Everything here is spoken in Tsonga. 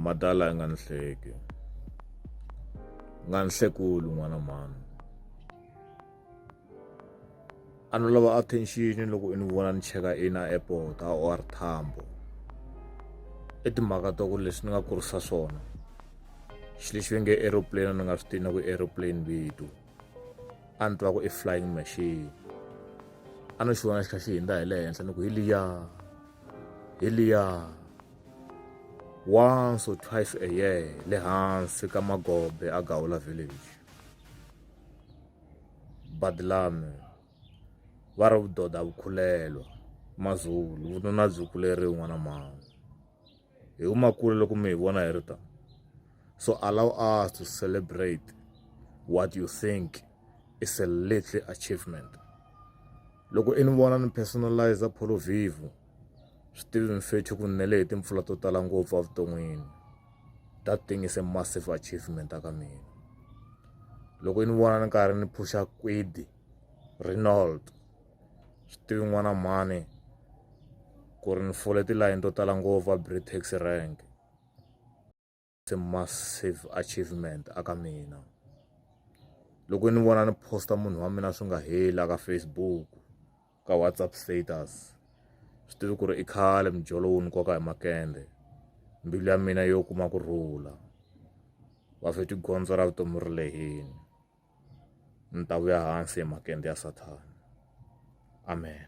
madala nga nhleki nga nhlekulu n'wana mhani a ni lava attention loko i ni vona ni cheka ina airport a or thambo i timhaka ta ku leswi ni nga kurisa swona xi lexi ve nge aeroplane ni nga swi tiva na ku aeroplane vito a ni twa ku i flying machine a no xi vona xi kha xi hindza hi le henhla ni ku hi liya hi liya once or twice a year le hansi ka magombe a gawula village badlami va ri vudoda vukhulelwa mazulu vununa byi kuleriwi n'wana mama hi huma kule loko mi hi vona hi ri ta so allow us to celebrate what you think is a little achievement loko i ni vona ni personalize polo vivo swi tivi mfethu ku nele hi timpfula to tala ngopfu evuton'wini that thing is a massive achievement aka mina loko i ni vona ni karhi ni phusha kwidi renold swi tivi n'wana mhani ku ri ni fole tilayini to tala ngopfu a britax rank se massive achievement a ka mina loko ni vona ni posta munhu wa mina swi nga heli a ka facebook ka whatsapp status swi tivi ku ri i khale mijolo wu ni koka hi makende mbilu ya mina yo kuma ku rhula va fe tigondzo ra vutomi ri lehini ni ta vuya hansi hi makende ya Sathana. Amen.